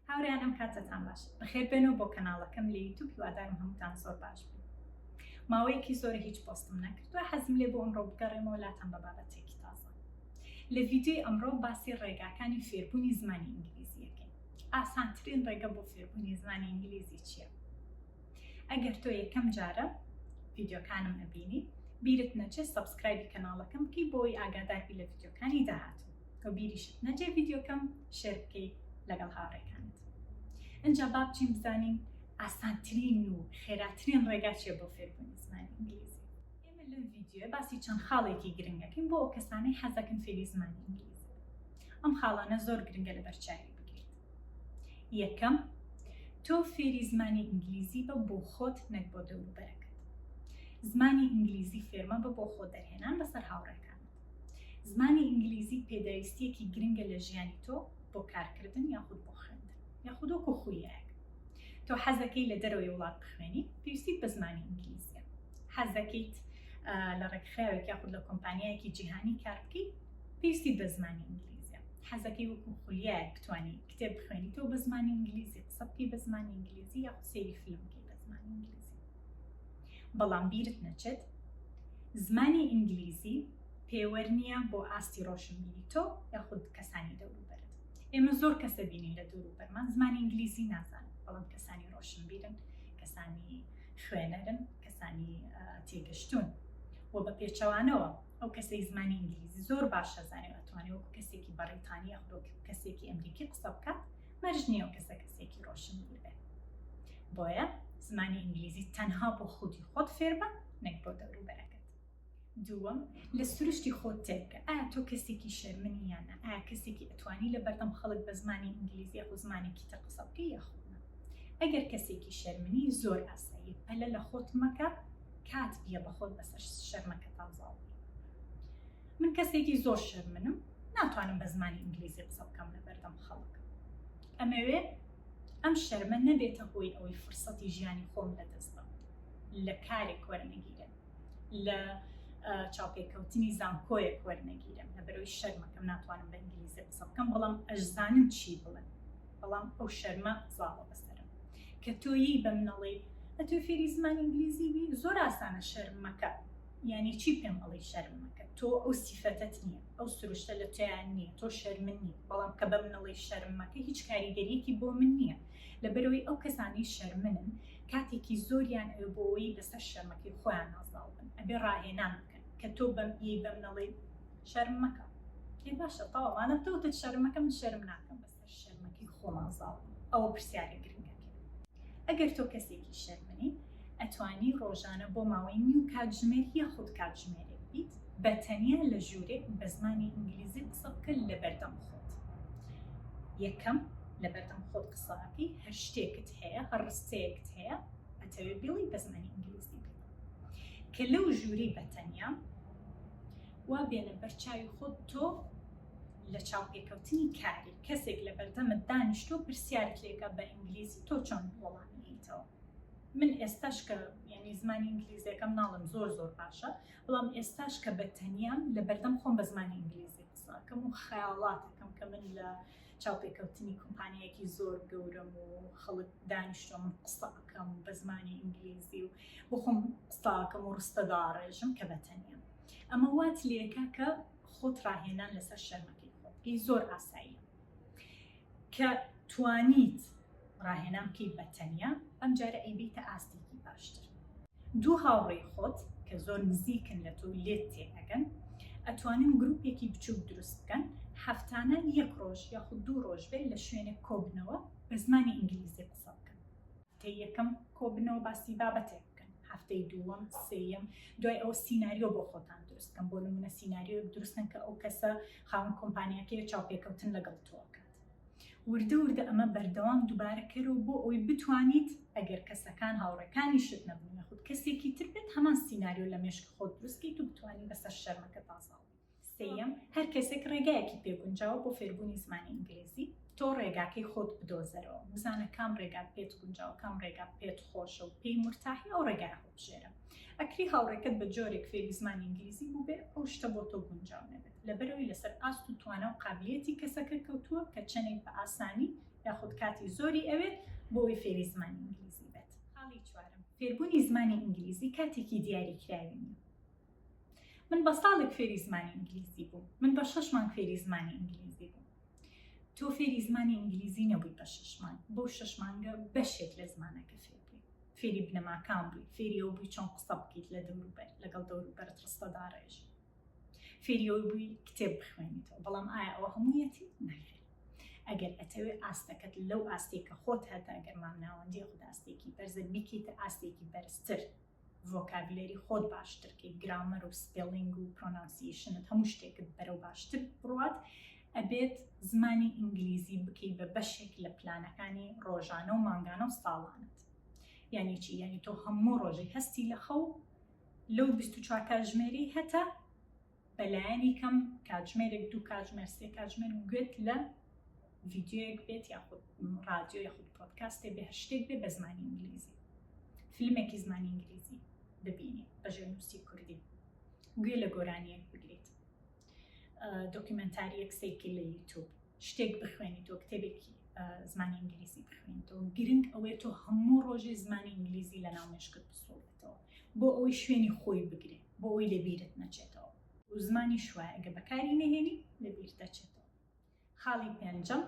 هاوریان ئەم کاتتان باش بەخێر بێن و بۆ کەناڵەکەم لە یوتوب هیوادارم هەمووتان زۆر باش بن ماوەیەکی زۆر هیچ پۆستم نەکردوە حەزم لێ بۆ ئەمڕۆ بگەڕێمەوە لاتان بە بابەتێکی تازە لە ڤیددیوی ئەمڕۆ باسی ڕێگاکانی فێربوونی زمانی ئینگلیزیەکەی ئاسانترین ڕێگە بۆ فێربوونی زمانی ئینگلیزی چییە؟ ئەگەر تۆ یەکەم جارە ڤیددیوکانم ئەبینی بیرت نەچێت سبسکرایبی کەناڵەکەم بکەی بۆی ئاگاداربی لە ڤیددیوکانی داهاتوو تۆ بیریشت نەجێ ڤیددیوکەم شێر بکەی لەگەڵ هاوڕێکانت ئەجا بابچین بزانین ئاسانترین و خێراترین ڕێگا چێ بۆ فێربوونی زمانی ئینگلیزی ئێمە لەم ڤیددیوە باسی چەند خاڵێکی گرنگەکەین بۆ ئەو کەسانەی حەزەکەن فێری زمانی ئینگلیزی ئەم خاڵانە زۆر گرنگە لە بەرچاوی یەکەم، تۆ فێری زمانی ئینگلیزی بە بۆ خۆت نەک بۆ دەوروبەرەکەت. زمانی ئینگلیزی فێرمەبە بۆ خۆ دەرهێنان بەسەر هاوڕێکانت. زمانی ئینگلیزی پێداویستییەکی گرنگە لە ژیانی تۆ بۆ کارکردن یاخود بۆ خوێندن یاخود وەکو خولیایەک. تۆ حەزەکەی لە دەرەوەی وڵات بخوێنی پێویستیت بە زمانی ئینگلیزیە. حەزەکەیت لە ڕێکخراوێک یاخود لە کۆمپانیایەکی جیهانی کار بکەی، پێویستیت بە زمانی ئینگلیزیە حەزەکەی وەکو خولیایەک بتانی کتێب بخوێنیتەوە بە زمانی ئینگلیزی قسە بکەی بە زمانی ئینگلیزی یا سێری فیلم بکەی بە زمانی ئینگلیزی بەڵام بیرت نەچێت زمانی ئینگلیزی پێوەەر نییە بۆ ئاستی ڕۆشنبیری تۆ یاخود کەسانی دەوروبەرت ئێمە زۆر کەسە بینین لە دوور و بەرمان زمانی ئینگلیزی نازان بەڵام کەسانی ڕۆشنبیرن کەسانی خوێنەرن کەسانی تێگەشتون و بە پێچەوانەوە ئەو کەسەی زمانی ئینگلیزی زۆر باش ئەزانێ و ئەتوانێ وەکو کەسێکی بەڕیتانی یاخود وەکو کەسێکی ئەمریکی قسە بکات مەرج نییە و کەسە کەسێکی ڕۆشنبیر بێت بۆیە زمانی ئینگلیزی تەنها بۆ خودی خۆت فێربە نەک بۆ دەوروبەرەکەت دووەم لە سروشتی خۆت تێبکە ئایا تۆ کەسێکی شەرمنی یانە ئایا کەسێکی ئەتوانی لە بەردەم خەڵک بە زمانی ئینگلیزی یاخود زمانێکی تر قسە بکەی یاخود ئەگەر کەسێکی شەرمنی زۆر ئاسایی پەلە لە خۆت مەکە کات بیە بەخۆت بەسەر شەرمەکە تازاڵ بی من کەسێکی زۆر شەرمنم ناتوانم بە زمانی ئینگلیزی قسە بکەم لە بەردەم خەڵک ئەمەوێ ئەم شەرمە نەبێتە هۆی ئەوەی فرسەتی ژیانی خۆم لە دەست بم لە کارێک وەرنەگیرێن لە چاوپێکەوتنی زانکۆیە کۆر نەگیرم لە بەرەوەی شەرمەکەم ناتوانم بە ئینگلیزی قسە بکەم بەڵام ئەشزانم چی بڵێن بەڵام ئەو شەرمە زاڵە بەسەرم کە تۆ ی بە من ئەڵێی ئەتوێ فێری زمانی ئینگلیزی بی زۆر ئاسانە شەرم مەکە یانی چی پێم ئەڵێی شەرم مەکە تۆ ئەو سیفەتەت نییە ئەو سروشتە لە تۆیا نییە تۆ شەرمن نیت بەڵام کە بە من ئەڵێی شەرم مەکە هیچ کاریگەریەکی بۆ من نییە لەبەرەوەی ئەو کەسانەی شەرمنن کاتێکی زۆریان ئەوێ بۆ ئەوەی لەسەر شەرمەکەی خۆیان نازناو بن ئەبێ ڕاهێنان بکەن کە تۆ بەم ی بە من ئەڵێی شەرم مەکە ئێ باشە تەواو مادەم تۆ وتت شەرم مەکە من شەرم ناکەم بەس هەر شەرمەکەی خۆمان زاڵین ئەوە پرسیارە گرنگەکەیە ئەگەر تۆ کەسێکی شەرمنی ئەتوانی ڕۆژانە بۆ ماوەی نیو کاتژمێر یاخود کاتژمێرێک بیت بە تەنیا لە ژورێک بە زمانی ئینگلیزی قسە بکە لەبەردەم خۆت یەکەم لەبەردەم خۆت قسەکەی هەر شتێکت هەیە هەر ڕستەیەکت هەیە ئەتەوێ بڵی بە زمانی ئینگلیزی بڵێ کە لەو ژووری بە تەنیا وا بێنە بەرچاوی خۆت تۆ لە چاوپێکەوتنی کاری، کەسێک لە بەردەمت دانیشتووە پرسیارت لێکا بە ئینگلیزی تۆ چۆن وەڵامی ئەیتەوە؟ من ئێستاش کە یانی زمانی ئینگلیزیەکەم ناڵێم زۆر زۆر باشە، بەڵام ئێستاش کە بە تەنیام لە بەردەم خۆم بە زمانی ئینگلیزی قسە ئەکەم و خەیاڵات ئەکەم کە من لە چاوپێکەوتنی کۆمپانیایەکی زۆر گەورەم و خەڵک دانیشتوم قسە ئەکەم بە زمانی ئینگلیزی و بۆ خۆم قسە ئەکەم و ڕستە داڕێژم کە بە تەنیام. ئەمە وات لێکا کە خۆت ڕاهێنان لەسەر شەرمەکەی خۆت بکەی زۆر ئاساییە کە توانیت ڕاهێنان بکەی بە تەنیا ئەم جارە ئەیبیتە ئاستێکی باشتر دوو هاوڕێی خۆت کە زۆر نزیکن لە تۆ لێت تێنەگەن ئەتوانن گرروپێکی بچوک دروست بکەن هەفتانە یەک ڕۆژ یاخود دوو ڕۆژ بێت لە شوێنێک کۆبنەوە بە زمانی ئینگلیزی قسە بکەن هەفتەی یەکەم کۆبنەوە باسی بابەتێک بکەن هەفتەی دووەم سێیەم دوای ئەو سینناریۆ بۆ خۆتان دروستکەم بۆ نمونە سینناریۆ دروستن کە ئەو کەسە خاون کۆمپانیەکەی چاوپێکەوتن لەگەڵ تۆکە وردە وردە ئەمە بەردەوام دووبارەکەرەوە بۆ ئەوی بتوانیت ئەگەر کەسەکان هاوڕەکانی شت نەبوون یاخود کەسێکی تر بێت هەمان سینناریۆ لە مێشک خۆت دروستکەیت و بتوانین بەسەر شەرمەکە تازاڵ سێیەم، هەر کەسێک ڕێگایەکی پێ گونجاوە بۆ فێربوونی زمانی ئینگلیزی، تۆ ڕێگاکەی خۆت بدۆزەرەوە، بزانە کام ڕێگات پێت گونجاوە، کام ڕێگات پێت خۆشە و پێی مورتاحی ئەو ڕێگایە هەڵبژێرە. ئەکری هاوڕێکەت بە جۆرێک فێری زمانی ئینگلیزی بووبێ ئەو شتە بۆ تۆ گونجاو نەبێت، لەبەرئەوەی لەسەر ئاست و توانا و قابلییەتی کەسەکە کەوتووە کە چەندێک بە ئاسانی یاخود کاتی زۆری ئەوێت بۆ ئەوەی فێری زمانی ئینگلیزی بێت. خاڵی چوارەم، فێربوونی زمانی ئینگلیزی کاتێکی دیاریکراوی نییە. من بە ساڵێک فێری زمانی ئینگلیزی بووم من بە شش مانگ فێری زمانی ئینگلیزی بووم تۆ فێری زمانی ئینگلیزی نەبووی بە شش مانگ بۆ شش مانگە بەشێک لە زمانەکە فێر بووی فێری بنەماکان بووی فێری ئەو بووی چۆن قسە بکەیت لە دەوروبەر لەگەڵ دەوروبەرت ڕستەداڕێژ فێری ئەو بووی کتێب بخوێنیتەوە بەڵام ئایا ئەوە هەموویەتی ناخێت ئەگەر ئەتەوێت ئاستەکەت لەو ئاستێکە خۆت هەتا گەرمان ناوەندی خوداستێکی بەرزە بیکەیتە ئاستێکی بەرزتر ڤۆکابلەری خۆت باشتر کەیت گرامەر و سپێڵینگ و پرۆنانسیشنت هەموو شتێکت بەرەو باشتر بڕوات ئەبێت زمانی ئینگلیزی بکەی بە بەشێک لە پلانەکانی ڕۆژانە و مانگانە و ساڵانت یعنی چی یعنی تۆ هەموو ڕۆژی هەستی لە خەو لەو 24 کاتژمێری هەتا بە لایەنی کەم کاتژمێرێک دوو کاتژمێر سێ کاتژمێر گوێت لە ڤیددیوەک بێت یاخود ڕادیۆ یاخود پۆتکاستێ بێ هەر شتێک بێ بە زمانی ئینگلیزی فیلمێکی زمانی ئینگلیزی ببینی بە ژێنووسی کوردی گوێ لە گۆرانیەک بگریت دۆکیمنتاریەک سێکی لە یوتوب شتێک بخوێنی تۆ کتێبێکی زمانی ئینگلیزی بخوێنیتەوە گرنگ ئەوەی تۆ هەموو ڕۆژی زمانی ئینگلیزی لە ناو مشکت بسوڵێتەوە بۆ ئەوەی شوێنی خۆی بگرێت بۆ ئەوەی لە بیرت نەچێتەوە. و زمانیش وایە ئەگەر بەکاری نەهێنی لە بیر دەچێتەوە. خاڵی پێنجەم،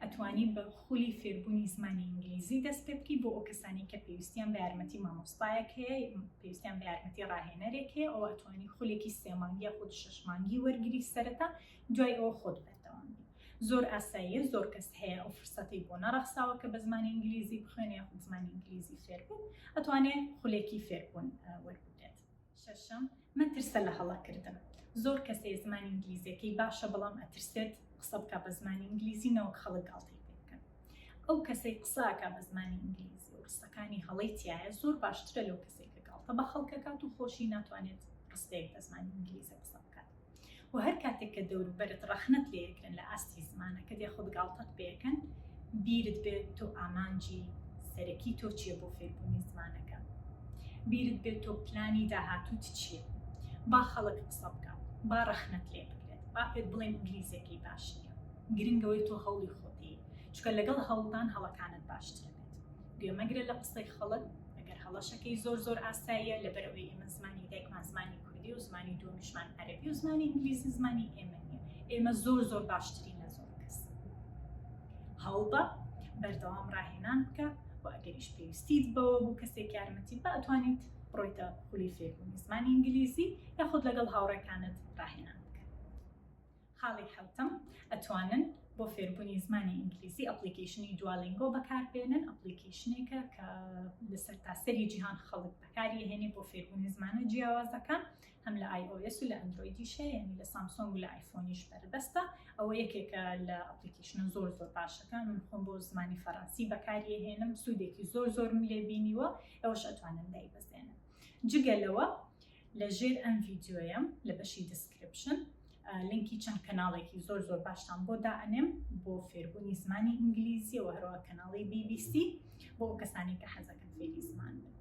ئەتوانی بە خولی فێربوونی زمانی ئینگلیزی دەست پێ بکەی بۆ ئەو کەسانەی کە پێویستیان بە یارمەتی مامۆستایەک هەیە، پێویستیان بە یارمەتی ڕاهێنەرێک هەیە، ئەوە ئەتوانی خولێکی سێ مانگ یاخود شەش مانگی وەرگری سەرەتا، دوای ئەوە خۆت بەردەوام بی. زۆر ئاساییە، زۆر کەس هەیە ئەو فرسەتەی بۆ نەڕەخساوە کە بە زمانی ئینگلیزی بخوێنێ یاخود زمانی ئینگلیزی فێر بێت، ئەتوانێ خولێکی فێربوون وەربگرێ. شەشەم، مەترسە لە هەڵە کردن. زۆر کەس هەیە زمانی ئینگلیزیەکەی باشە بەڵام ئەترسێت قسە بکا بە زمانی ئینگلیزی نەوەک خەڵک گاڵتەی پێ بکەن. ئەو کەسەی قسە ئەکا بە زمانی ئینگلیزی و قسەکانی هەڵەی تیایە زۆر باشترە لەو کەسەی کە گاڵتە بە خەڵک ئەکات و خۆشی ناتوانێت قسەیەک بە زمانی ئینگلیزی قسە بکات. و هەر کاتێک کە دەوروبەرت ڕەخنەت لێکەن لە ئاستی زمانەکەت یاخود گاڵتەت پێکەن بیرت بێت تۆ ئامانجی سەرەکی تۆ چییە بۆ فێربوونی زمانەکە بیرت بێت تۆ پلانی داهاتوت چییە با خەڵک قسە بکە با ڕەخنەت لێ بکرێت با پێت بڵێن ئینگلیزیەکەی باش نیە گرنگەوەی تۆ هەوڵی خۆتی چکە لەگەڵ هەوڵدان هەڵەکانت باشتر بێت گوێمەگرە لە قسەی خەڵک ئەگەر هەڵەشەکەی زۆر زۆر ئاساییە لەبەرەوەی ئێمە زمانی دایکمان زمانی کوردی و زمانی دووەمیشمان عەرەبی و زمانی ئینگلیزی زمانی ئێمە نیە ئێمە زۆر زۆر باشترین لە زۆر کەس هەوڵبە بەردەوام ڕاهێنان بکە و ئەگەریش پێویستیت بەوە بوو کەسێک یارمەتی بە ئەتوانیت بڕۆیتە خولی فێربوونی زمانی ئینگلیزی یاخود لەگەڵ هاوڕێکانت ڕاهێنان خاڵی حەوتەم، ئەتوانن بۆ فێربوونی زمانی ئینگلیزی ئەپڵیکەیشنی Duolingo بەکاربێنن، ئەپڵیکەیشنێکە کە لە سەرتاسەری جیهان خەڵک بەکاری ئەهێنێ بۆ فێربوونی زمانە جیاوازەکان، هەم لە iOS و لە ئەندرۆیدیش هەیە، یانی لە سامسۆنگ و لە ئایفۆنیش بەردەستە، ئەوە یەکێکە لە ئەپڵیکەیشنە زۆر زۆر باشەکان، من خۆم بۆ زمانی فەرەنسی بەکاری ئەهێنم، سوودێکی زۆر زۆرم لێ بینیوە، ئێوەش ئەتوانن دایبەزێنن. جگە لەوە لە ژێر ئەم ڤیدیۆیەم لە بەشی دیسکرپشن لینکی چەند کەناڵێکی زۆر زۆر باشتان بۆ دائەنێم بۆ فێربوونی زمانی ئینگلیزیەوە هەروە کەناڵی BBC بۆ کەسانی کە حەزەکەن فێری زمان بن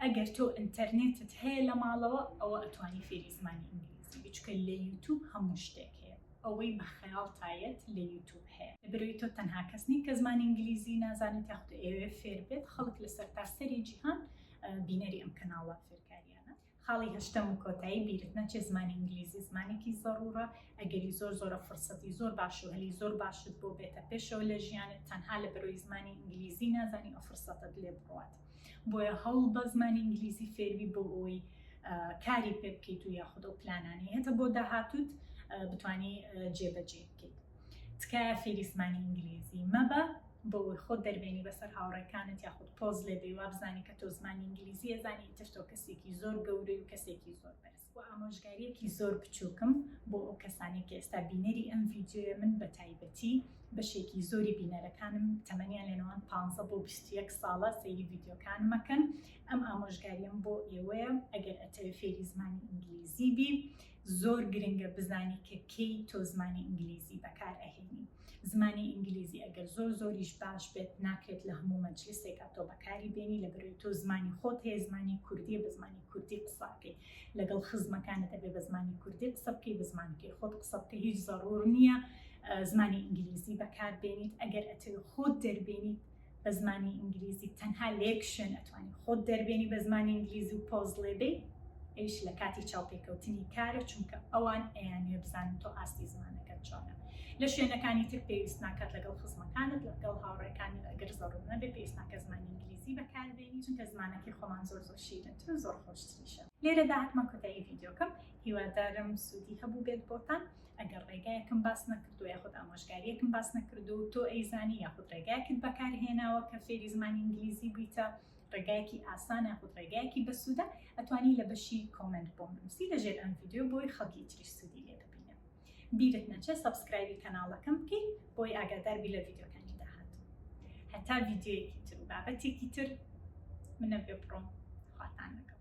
ئەگەر تۆ ئینتەرنێتت هەیە لە ماڵەوە ئەوە ئەتوانی فێری زمانی ئینگلیزی بچکە لە یوتوب هەموو شتێک هەیە ئەوەی بە خەیاڵ تایەت لە یوتوب هەیە بروی تۆ تەنها کەس نین کە زمانی ئینگلیزی نازانێت یاخود ئێوێ فێر بێت خەڵک لەسەر تاسەری جیهان بینەری ئەم کەناڵە فێرکاری ئەگەرییانە. خاڵی هەشتەم و کۆتایی، بیرت نەچێت زمانی ئینگلیزی زمانێکی زەڕوڕە، ئەگەری زۆر زۆرە فرسەتی زۆر باش و هەلی زۆر باشت بۆ بێتە پێشەوە لە ژیانت، تەنها لە بەرۆی زمانی ئینگلیزی نازانی ئەو فرسەتەت لێ بڕوات. بۆیە هەوڵ بە زمانی ئینگلیزی فێر بی بۆ ئەوەی کاری پێ بکەیت و یاخود ئەو پلانانەی هەتە بۆ داهاتووت بتانی جێبەجێی بکەیت. تکایە فێری زمانی ئینگلیزی مەبە. بەوەی خۆت دەربێنی بەسەر هاوڕێکانت یاخود پۆز لێدەی وابزانی کە تۆ زمانی ئینگلیزی ئەزانی ئیتر تۆ کەسێکی زۆر گەورەی و کەسێکی زۆر بەرز. وە ئامۆژگاریەکی زۆر بچوکم بۆ ئەو کەسانەی کە ئێستا بینەری ئەم ڤیدیۆیە من بەتایبەتی بەشێکی زۆری بینەرەکانم تەمەنیان لە نێوان پانزە بۆ بیست و یەک ساڵە سەیری ڤیدیۆکانم ئەکەن ئەم ئامۆژگاریەم بۆ ئێوەیە ئەگەر ئەتەوێ فێری زمانی ئینگلیزی بی زۆر گرنگە بزانی کە کەی تۆ زمانی ئینگلیزی بەکار ئەهێنی زمانی ئینگلیزی ئەگەر زۆر زۆریش باش بێت ناکرێت لە هەموو مەجلسێکا تۆ بەکاری بێنی لە بەرەوەی تۆ زمانی خۆت هەیە زمانی کوردی بە زمانی کوردی قساکەی لەگەڵ خزمەکانت دەبێت بە زمانی کوردی قسە بکەی بە زمانەکەی خۆت قسە بکە هیچ زەڕور نییە زمانی ئینگلیزی بەکار بێنیت ئەگەر ئەتەوێت خۆت دەربێنیت بە زمانی ئینگلیزی تەنها لە یەک شوێن ئەتوانی خۆت دەربێنی بە زمانی ئینگلیزی و پۆز لێبێی ئەیش لە کاتی چاوپێکەوتنی کارە چونکە ئەوان ئەیانێ بزانن تۆ ئاستی زمانەکەت چۆنە لە شوێنەکانی تر پێویست ناکات لەگەڵ خزمەکانت لەگەڵ هاوڕێکانی ئەگەر زەڕوو نەبێ پێویست ناکە زمانی ئینگلیزی بەکاربێنی چونکە زمانەکەی خۆمان زۆر زۆر شیرنتر و زۆر خۆشتریشە لێرەدا هاتمە کۆتایی ڤیدیۆکەم هیوادارم سوودی هەبوو بێت بۆتان ئەگەر ڕێگایەکم باس نەکردو یاخود ئامۆژگاریەکم باس نەکردو تۆ ئەیزانی یاخود ڕێگایەکت بەکارهێناوە کە فێری زمانی ئینگلیزی بوویتە ڕێگایەکی ئاسان یاخود ڕێگایەکی بەسوودە ئەتوانی لە بەشی کۆمنت بۆم نووسی لەژێر ئەم ڤیددیو بۆی خەڵکی تریش سوودی لێ ببینە بیرت نەچێت سەبسکرایبی کەناڵەکەم بکەیت بۆی ئاگاداربی لە ڤیددیوکانی داهات هەتا ڤیددیوەکی تر و بابەتێکی تر منە بێ بڕۆم خواتان لەگەڵ